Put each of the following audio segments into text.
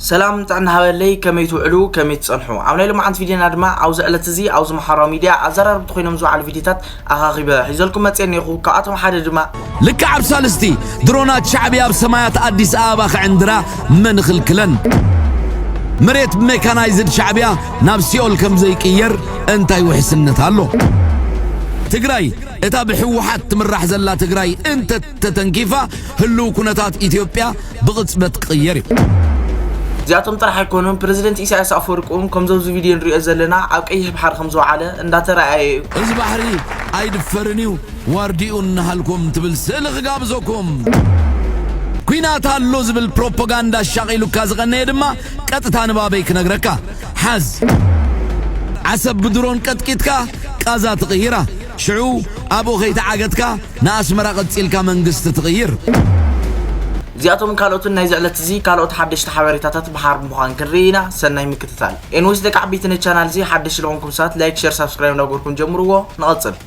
ሰላም ጥዕና ሃበለይ ከመይ ትውዕሉ ከመይ ትጸንሑ ኣብ ናይ ሎማዓንቲ ቪድዮና ድማ ኣብዚ ዕለት እዚ ኣብዚ ማሓራዊ ሚድያ ኣዛራርብቲ ኮይኖም ዝውዓሉ ቪድዮታት ኣኻኺበ ሒዘልኩም መጽየ እኔኹ ካብኣቶም ሓደ ድማ ልክዕ ኣብ ሳልስቲ፣ ድሮናት ሻዕብያ ኣብ ሰማያት ኣዲስ ኣበባ ክዕንድራ መን ይኽልክለን? መሬት ብሜካናይዝድ ሻዕብያ ናብ ሲኦል ከም ዘይቅየር እንታይ ውሕስነት ኣሎ? ትግራይ፣ እታ ብህወሓት ትምራሕ ዘላ ትግራይ እንተ ተተንኪፋ ህልው ኩነታት ኢትዮጵያ ብቕጽበት ክቕየር እዩ። እዚኣቶም ጥራሕ ኣይኮኑን ፕረዚደንት ኢሳያስ ኣፈወርቂ እውን ከምዞም እዚ ቪድዮ ንሪኦ ዘለና ኣብ ቀይሕ ባሕሪ ከም ዝወዓለ እንዳተረኣየ እዩ። እዚ ባሕሪ ኣይድፈርን እዩ ዋርድኡ እናሃልኩም ትብል ስእሊ ክጋብዘኩም። ኲናት ኣሎ ዝብል ፕሮፖጋንዳ ኣሻቒሉካ ዝቐነየ ድማ ቀጥታ ንባበይ ክነግረካ። ሓዝ። ዓሰብ ብድሮን ቀጥቂጥካ ቃዛ ትቕይራ። ሽዑ ኣብኡ ከይተዓገትካ ንኣስመራ ቀጺልካ መንግስቲ ትቕይር። እዚኣቶምን ካልኦትን ናይዚ ዕለት እዚ ካልኦት ሓደሽቲ ሓበሬታታት ብሓባር ብምዃን ክንርኢ ኢና ሰናይ ምክትታል። ኤንዌስ ደቂ ዓበይቲ ነዚ ቻናል እዚ ሓደሽቲ ልኾንኩም ሰባት ላይክ ሸር ሳብስክራይብ እንዳገበርኩም ጀምርዎ ንቐጽል።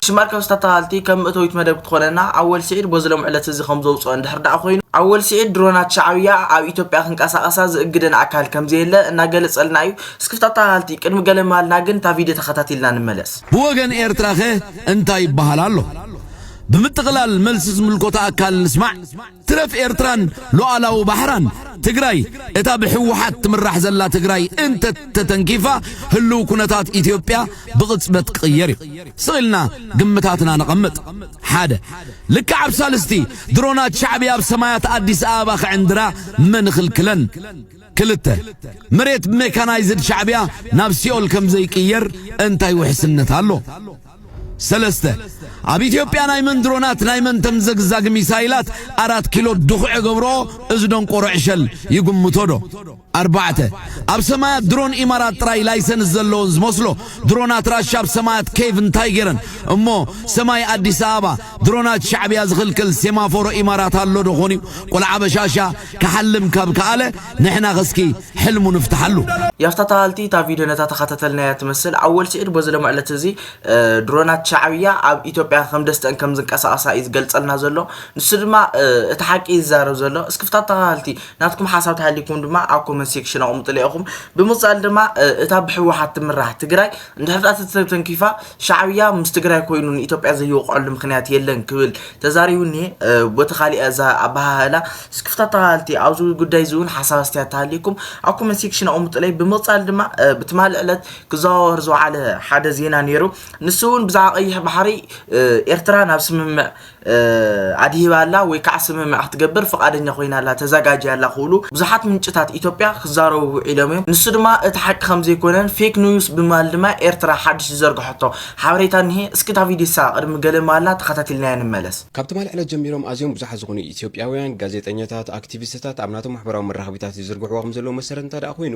ሽም ኣርካብስ ተታሃልቲ ከም መእተዊት መደብ ክትኾነና ኣወል ስዒድ ቦዚ ሎም ዕለት እዚ ከም ዘውጽኦ እንድሕር ደኣ ኮይኑ ኣወል ስዒድ ድሮናት ሻዕብያ ኣብ ኢትዮጵያ ክንቀሳቐሳ ዝእግደን ኣካል ከም ዘየለ እናገለጸልና እዩ። እስኪ ተታሃልቲ ቅድሚ ገለ ምባልና ግን እታ ቪድዮ ተኸታቲልና ንመለስ። ብወገን ኤርትራኸ እንታይ ይበሃል ኣሎ? ብምጥቕላል መልሲ ዝምልከቶ ኣካል ንስማዕ። ትረፍ ኤርትራን ሉዓላዊ ባሕራን ትግራይ እታ ብሕወሓት ትምራሕ ዘላ ትግራይ እንተተተንኪፋ ህልው ኩነታት ኢትዮጵያ ብቕጽበት ክቕየር እዩ። ስቕ ኢልና ግምታትና ነቐምጥ። ሓደ ልክዕ ኣብ ሳልስቲ ድሮናት ሻዕብያ ኣብ ሰማያት ኣዲስ ኣበባ ክዕንድራ መን ይኽልክለን? ክልተ፣ መሬት ብሜካናይዝድ ሻዕብያ ናብ ሲኦል ከም ዘይቅየር እንታይ ውሕስነት ኣሎ? ሰለስተ፣ ኣብ ኢትዮጵያ ናይ መን ድሮናት ናይ መን ተምዘግዛጊ ሚሳይላት ኣራት ኪሎ ድኹዕ እገብርኦ እዚ ደንቆሮ ዕሸል ይግምቶ ዶ? ኣርባዕተ፣ ኣብ ሰማያት ድሮን ኢማራት ጥራይ ላይሰንስ ዘለዎን ዝመስሎ ድሮናት ራሻ ኣብ ሰማያት ኬቭ እንታይ ገይረን? እሞ ሰማይ ኣዲስ ኣበባ ድሮናት ሻዕብያ ዝኽልክል ሴማፎሮ ኢማራት ኣሎ ዶ ኾን እዩ? ቆልዓ በሻሻ ክሓልም ካብ ከኣለ ንሕናኸ እስኪ ሕልሙ ንፍትሓሉ። ያፍታ ተሃልቲ እታ ቪድዮ ነታ ተኸታተልናያ ትመስል ኣወል ሲዒድ በዚ ሎሚ ዕለት እዚ ድሮናት ሻዕብያ ኣብ ኢትዮጵያ ከም ደስተን ከም ዝንቀሳቐሳ እዩ ዝገልጸልና ዘሎ ንሱ ድማ እቲ ሓቂ እዩ ዝዛረብ ዘሎ እስኪ ፍታ ተሃልቲ ናትኩም ሓሳብ ተሃሊኩም ድማ ኣብ ኮመንት ሴክሽን ኣቕምጡለ ኢኹም ብምቕጻል ድማ እታ ብሕወሓት ትምራሕ ትግራይ እንድሕር ተተንኪፋ ሻዕብያ ምስ ትግራይ ኮይኑ ንኢትዮጵያ ዘይወቕዐሉ ምክንያት የለን ክብል ተዛሪቡ እኒሀ። ቦቲ ካሊእ እዛ ኣበሃህላ ስክፍታ ተኸታተልቲ ኣብዚ ጉዳይ እዚ እውን ሓሳብ ኣስተያየት ተሃልዩኩም ኣብ ኮመንት ሴክሽን ኣቕምጡለይ። ብምቕፃል ድማ ብትማሊ ዕለት ክዘዋወር ዝወዓለ ሓደ ዜና ነይሩ። ንሱ እውን ብዛዕባ ቀይሕ ባሕሪ ኤርትራ ናብ ስምምዕ ኣድሂባ ኣላ ወይ ከዓ ስምምዕ ክትገብር ፍቓደኛ ኮይና ኣላ፣ ተዘጋጅያ ኣላ ክብሉ ብዙሓት ምንጭታት ኢትዮጵያ ክዛረቡ ውዒሎም እዮም። ንሱ ድማ እቲ ሓቂ ከምዘይኮነን ፌክ ኑዩስ ብምባል ድማ ኤርትራ ሓድሽ ዝዘርግሐቶ ሓበሬታ እኒሀ። እስኪ እታ ቪድዮ ንሳ ቅድሚ ገለ ምባላ ተኸታቲልናያ ንመለስ። ካብ ትማሊ ዕለት ጀሚሮም ኣዝዮም ብዙሓት ዝኾኑ ኢትዮጵያውያን ጋዜጠኛታት፣ ኣክቲቪስትታት ኣብ ናቶም ማሕበራዊ መራኸቢታት ይዝርግሕዎ ከምዘለዉ መሰረት እንተድኣ ኮይኑ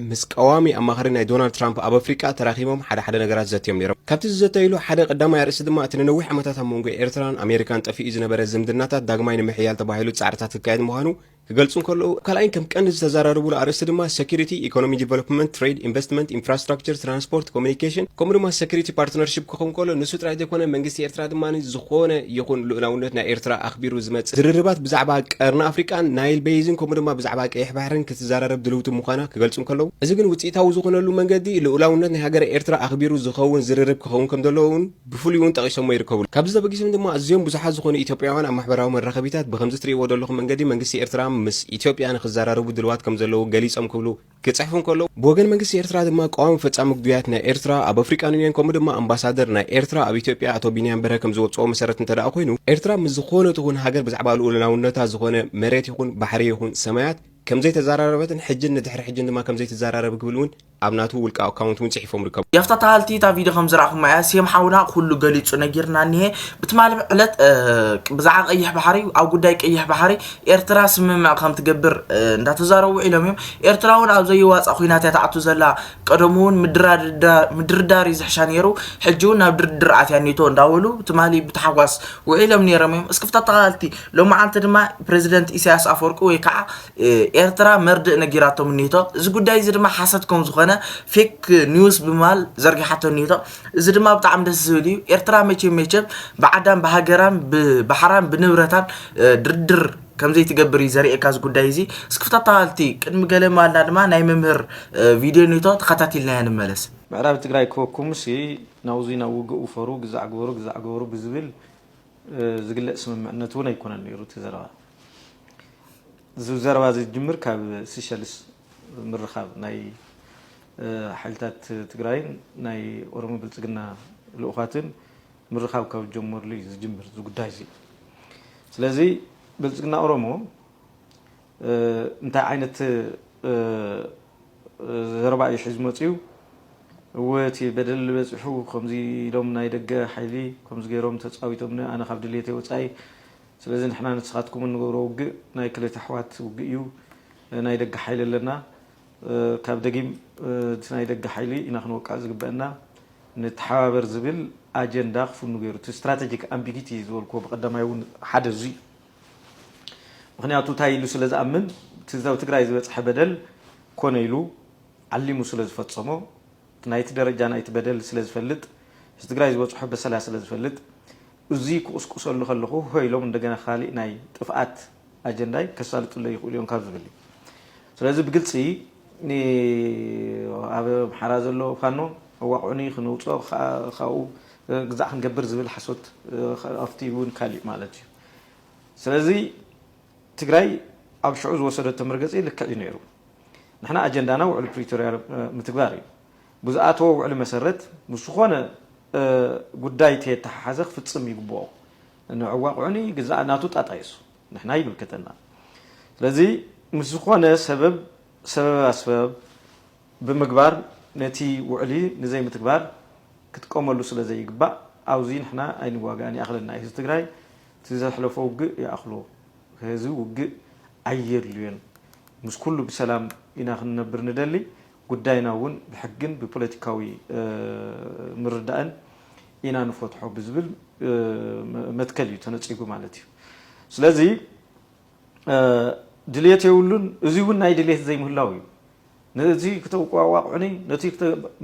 ምስ ቀዋሚ ኣማኻሪ ናይ ዶናልድ ትራምፕ ኣብ ኣፍሪቃ ተራኺቦም ሓደ ሓደ ነገራት ዘትዮም ነይሮም። ካብቲ ዝዘተይሉ ሓደ ቀዳማይ ኣርእስቲ ድማ እቲ ንነዊሕ ዓመታት ኣብ መንጎ ኤርትራን ኣሜሪካን ጠፊኡ ዝነበረ ዝምድናታት ዳግማይ ንምሕያል ተባሂሉ ጻዕርታት ክካየድ ምዃኑ ክገልጹ እንከለዉ፣ ኣብ ካልኣይን ከም ቀንዲ ዝተዘራረቡሉ ኣርእስቲ ድማ ሰኩሪቲ፣ ኢኮኖሚ ዲቨሎፕመንት፣ ትሬድ፣ ኢንቨስትመንት፣ ኢንፍራስትራክቸር፣ ትራንስፖርት፣ ኮሙኒኬሽን ከምኡ ድማ ሰኩሪቲ ፓርትነርሺፕ ክኸውን ከሎ ንሱ ጥራይ ዘይኮነ መንግስቲ ኤርትራ ድማ ዝኾነ ይኹን ልኡላውነት ናይ ኤርትራ ኣኽቢሩ ዝመጽእ ዝርርባት ብዛዕባ ቀርኒ ኣፍሪቃን ናይል በይዝን ከምኡ ድማ ብዛዕባ ቀይሕ ባሕርን ክትዘራረብ ድልውቲ ምዃና ክገልጹ እንከለዉ እዚ ግን ውጽኢታዊ ዝኾነሉ መንገዲ ልኡላውነት ናይ ሃገረ ኤርትራ ኣኽቢሩ ዝኸውን ዝርርብ ክኸውን ከም ዘለዎ እውን ብፍሉይ እውን ጠቒሶሞ ይርከቡ። ካብዚ ተበጊሶም ድማ ኣዝዮም ብዙሓት ዝኾኑ ኢትዮጵያውያን ኣብ ማሕበራዊ መራኸቢታት ብኸምዚ ትርእይዎ ዘለኹም መንገዲ መንግስቲ ኤርትራ ምስ ኢትዮጵያ ንኽዘራረቡ ድልዋት ከም ዘለዉ ገሊጾም ክብሉ ክጽሕፉ እንከለዉ፣ ብወገን መንግስቲ ኤርትራ ድማ ቀዋሚ ፈጻሚ ጉዳያት ናይ ኤርትራ ኣብ ኣፍሪቃን ዩንዮን ከምኡ ድማ ኣምባሳደር ናይ ኤርትራ ኣብ ኢትዮጵያ ኣቶ ቢንያም በርሀ ከም ዝወጽኦ መሰረት እንተደኣ ኮይኑ ኤርትራ ምስ ዝኾነት ይኹን ሃገር ብዛዕባ ልኡላውነታ ዝኾነ መሬት ይኹን ባሕሪ ይኹን ሰማያት ከምዘይተዘራረበትን ሕጅን ንድሕሪ ሕጅን ድማ ከምዘይትዘራረብ ክብል እውን ኣብ ናቱ ውልቀ ኣካውንት እውን ጽሒፎም ይርከቡ። ያፍታ ተሃልቲ እታ ቪድዮ ከም ዝረኣኹማ እያ ሴም ሓውና ኩሉ ገሊጹ ነጊርና እኒሀ ብትማሊ ዕለት ብዛዕባ ቀይሕ ባሕሪ ኣብ ጉዳይ ቀይሕ ባሕሪ ኤርትራ ስምምዕ ከም ትገብር እንዳተዛረቡ ውዒሎም እዮም። ኤርትራ እውን ኣብ ዘይዋፃእ ኩናት እያ ትኣቱ ዘላ። ቀደሙ እውን ምድርዳር እዩ ዝሕሻ ነይሩ፣ ሕጂ እውን ናብ ድርድር ኣትያ ኔቶ እንዳበሉ ትማሊ ብታሕጓስ ውዒሎም ነይሮም እዮም። እስኪ ተኸታተልቲ ሎማዓንቲ ድማ ፕረዚደንት ኢሳያስ ኣፈወርቂ ወይ ከዓ ኤርትራ መርድእ ነጊራቶም ኔቶ እዚ ጉዳይ እዚ ድማ ሓሰት ከም ዝኾነ ፌክ ኒውስ ብምባል ዘርጊሓቶ ኔቶ እዚ ድማ ብጣዕሚ ደስ ዝብል እዩ ኤርትራ መቸም መቸም ብዓዳን ብሃገራን ብባሕራን ብንብረታን ድርድር ከም ዘይትገብር እዩ ዘርእየካ እዚ ጉዳይ እዚ እስኪ ተታሃልቲ ቅድሚ ገለ ማልና ድማ ናይ መምህር ቪድዮ ኔቶ ተኸታቲልናዮ ንመለስ ምዕራብ ትግራይ ክበኩምሲ ናብዙይ ናብ ውግእ ውፈሩ ግዛዕ ግበሩ ግዛዕ ግበሩ ብዝብል ዝግለፅ ስምምዕነት እውን ኣይኮነን ነይሩ እቲ ዘረባ እዚ ዘረባ እዚ ዝጅምር ካብ ሲሸልስ ምርኻብ ናይ ሓይልታት ትግራይን ናይ ኦሮሞ ብልፅግና ልኡኻትን ምርኻብ ካብ ዝጀመሩሉ እዩ ዝጅምር እዚ ጉዳይ እዚ። ስለዚ ብልፅግና ኦሮሞ እንታይ ዓይነት ዘረባ እዩ ሒዙ መፅዩ እወ እቲ በደል በፂሑ ከምዚ ኢሎም ናይ ደገ ሓይሊ ከምዚ ገይሮም ተፃዊቶምኒ ኣነ ካብ ድሌተይ ወፃኢ ስለዚ ንሕና ንስኻትኩም እንገብሮ ውግእ ናይ ክልተ ኣሕዋት ውግእ እዩ ናይ ደገ ሓይሊ ኣለና ካብ ደጊም እቲ ናይ ደገ ሓይሊ ኢና ክንወቃዕ ዝግበእና ንተሓባበር ዝብል ኣጀንዳ ክፍኑ ገይሩ እቲ ስትራተጂክ ኣምቢጊቲ ዝበልክዎ ብቀዳማይ እውን ሓደ እዙይ እዩ ምክንያቱ እንታይ ኢሉ ስለዝኣምን እቲ ኣብ ትግራይ ዝበፅሐ በደል ኮነ ኢሉ ዓሊሙ ስለዝፈፀሞ ናይቲ ደረጃ ናይቲ በደል ስለዝፈልጥ ህዝቢ ትግራይ ዝበፅሖ በሰላ ስለዝፈልጥ እዙይ ክቑስቁሰሉ ከለኹ ሆይ ኢሎም እንደገና ካሊእ ናይ ጥፍኣት ኣጀንዳይ ከሳልጥለይ ይኽእሉ እዮም ካብ ዝብል እዩ። ስለዚ ብግልፂ ኣብ ኣምሓራ ዘሎ ፋኖ ኣዋቕዑኒ ክንውፆ ካብኡ ግዛዕ ክንገብር ዝብል ሓሶት ኣብቲ እውን ካሊእ ማለት እዩ። ስለዚ ትግራይ ኣብ ሽዑ ዝወሰደቶ መርገፂ ልክዕ እዩ ነይሩ። ንሕና ኣጀንዳና ውዕሊ ፕሪቶሪያ ምትግባር እዩ። ብዝኣተዎ ውዕሊ መሰረት ምስ ዝኾነ ጉዳይ ተየተሓሓዘ ክፍፅም ይግብኦ። ንዕኡ ኣቕዑኒ ግዛኣ ናቱ ጣጣ የሱ ንሕና ኣይምልከተናን። ስለዚ ምስ ዝኾነ ሰበብ ሰበበ ኣስበብ ብምግባር ነቲ ውዕሊ ንዘይምትግባር ክጥቀመሉ ስለ ዘይግባእ ኣብዙይ ንሕና ኣይንዋጋእን ይኣኽለና እዩ ህዝቢ ትግራይ እቲ ዘሕለፎ ውግእ ይኣኽሎ ከዚ ውግእ ኣየድልዮን ምስ ኩሉ ብሰላም ኢና ክንነብር ንደሊ ጉዳይና እውን ብሕግን ብፖለቲካዊ ምርዳእን ኢና ንፈትሖ ብዝብል መትከል እዩ ተነፂጉ ማለት እዩ። ስለዚ ድልየት የብሉን፣ እዚ እውን ናይ ድልየት ዘይምህላው እዩ። ነቲ ክተዋቃዕዑኒ ነቲ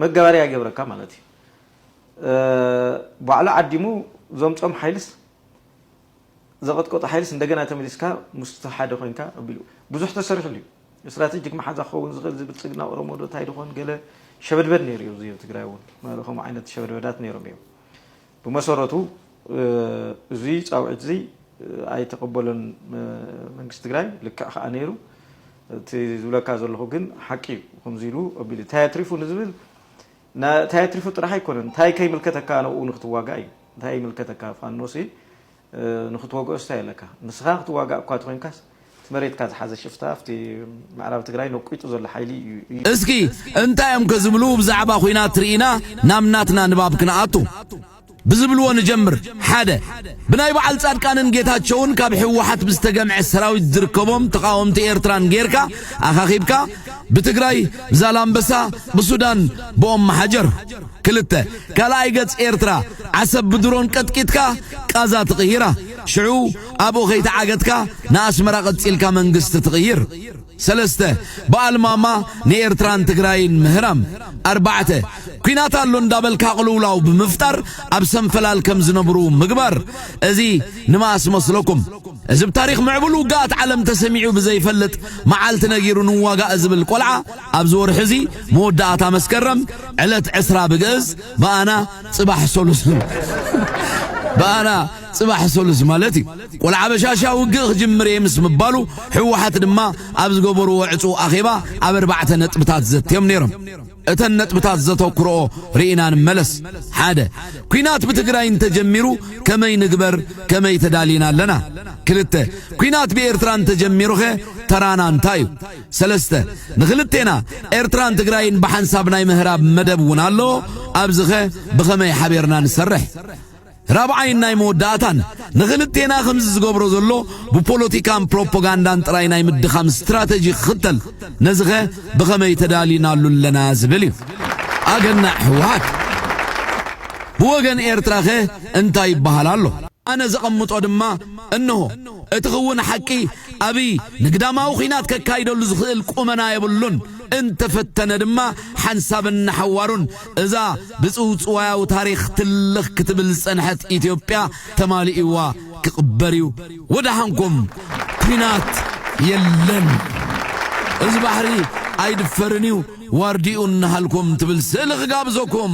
መጋበርያ ይገብረካ ማለት እዩ። ባዕሉ ዓዲሙ ዘምፆም ሓይልስ ዘቐጥቆጦ ሓይልስ እንደገና ተመሊስካ ምስቱ ሓደ ኮይንካ ኣቢሉ ብዙሕ ተሰሪሕሉ እዩ። ስትራቴጂክ መሓዛ ክኸውን ዝኽእል እዚ ብልፅግና ኦሮሞ ዶ ታይ ድኾን ገለ ሸበድበድ ነይሩ እዩ እዙይ ኣብ ትግራይ እውን ማለ ከምኡ ዓይነት ሸበድበዳት ነይሮም እዮም ብመሰረቱ እዙይ ፃውዒት እዙይ ኣይተቐበሎን መንግስቲ ትግራይ ልክዕ ከዓ ነይሩ እቲ ዝብለካ ዘለኹ ግን ሓቂ እዩ ከምዚ ኢሉ ኣቢሉ እንታይ ኣትሪፉ ንዝብል ንታይ ኣትሪፉ ጥራሕ ኣይኮነን ታይ ከይምልከተካ ንኡ ንክትዋጋእ እዩ ታይ ይምልከተካ ፋኖሲ ንክትወግኦስ ታይ ኣለካ ንስካ ክትዋጋእ እኳ ተኮንካስ እቲ መሬትካ ዝሓዘ ሽፍታ ኣብቲ ምዕራብ ትግራይ ነቁጡ ዘሎ ሓይሊ እዩ። እስኪ እንታይ እዮም ከ ዝብሉ ብዛዕባ ኹናት ርኢና ናብ ናትና ንባብ ክንኣቱ። ብዝብልዎ ንጀምር፣ ሓደ። ብናይ በዓል ጻድቃንን ጌታቸውን ካብ ህወሓት ብዝተገምዐ ሰራዊት ዝርከቦም ተቓወምቲ ኤርትራን ጌርካ ኣኻኺብካ ብትግራይ፣ ብዛላምበሳ፣ ብሱዳን፣ ብኦምሓጀር። ክልተ። ካልኣይ ገጽ ኤርትራ ዓሰብ ብድሮን ቀጥቂጥካ ቃዛ ትቕይራ። ሽዑ ኣብኡ ከይተዓገትካ ንኣስመራ ቀጺልካ መንግስቲ ትቕይር። ሰለስተ፣ ብኣልማማ ንኤርትራን ትግራይን ምህራም። ኣርባዕተ፣ ኲናት ኣሎ እንዳበልካ ቅልውላው ብምፍጣር ኣብ ሰንፈላል ከም ዝነብሩ ምግባር። እዚ ንመኣስ መስለኩም? እዚ ብ ታሪኽ ምዕቡል ውግኣት ዓለም ተሰሚዑ ብዘይፈልጥ መዓልቲ ነጊሩ ንዋጋእ ዝብል ቆልዓ ኣብዚ ወርሒ እዚ መወዳእታ መስከረም ዕለት ዕስራ ብግእዝ ብኣና ጽባሕ ሰሉስ ብኣና ጽባሕ ሰሉስ ማለት እዩ። ቆልዓ በሻሻ ውግእ ክጅምር እየ ምስ ምባሉ ህወሓት ድማ ኣብ ዝገበርዎ ዕፁው ኣኼባ ኣብ ኣርባዕተ ነጥብታት ዘትዮም ነይሮም። እተን ነጥብታት ዘተኩርኦ ርኢና ንመለስ። ሓደ ኲናት ብትግራይ እንተጀሚሩ ከመይ ንግበር ከመይ ተዳሊና ኣለና? ክልተ ኲናት ብኤርትራ እንተጀሚሩኸ ተራና እንታይ እዩ? ሰለስተ ንክልቴና ኤርትራን ትግራይን ብሓንሳብ ናይ ምህራብ መደብ እውን ኣሎ። ኣብዚኸ ብኸመይ ሓቢርና ንሰርሕ? ራብዓይን ናይ መወዳእታን፣ ንኽልቴና ከምዚ ዝገብሮ ዘሎ ብፖለቲካን ፕሮፖጋንዳን ጥራይ ናይ ምድኻም ስትራተጂ ክኽተል፣ ነዚኸ ብኸመይ ተዳሊናሉ ኣለና ዝብል እዩ። ኣገናዕ ህወሓት! ብወገን ኤርትራኸ እንታይ ይበሃል ኣሎ? ኣነ ዘቐምጦ ድማ እንሆ። እቲ ክውን ሓቂ፣ ኣብይ ንግዳማዊ ኲናት ከካይደሉ ዝኽእል ቁመና የብሉን፣ እንተፈተነ ድማ ሓንሳብን ንሓዋሩን እዛ ብጽውጽዋያዊ ታሪኽ ትልኽ ክትብል ዝጸንሐት ኢትዮጵያ ተማሊኡዋ ክቕበር እዩ። ወደሓንኩም! ኲናት የለን፣ እዚ ባሕሪ ኣይድፈርን እዩ፣ ዋርድይኡ እንሃልኩም ትብል ስእሊ ክጋብዘኩም።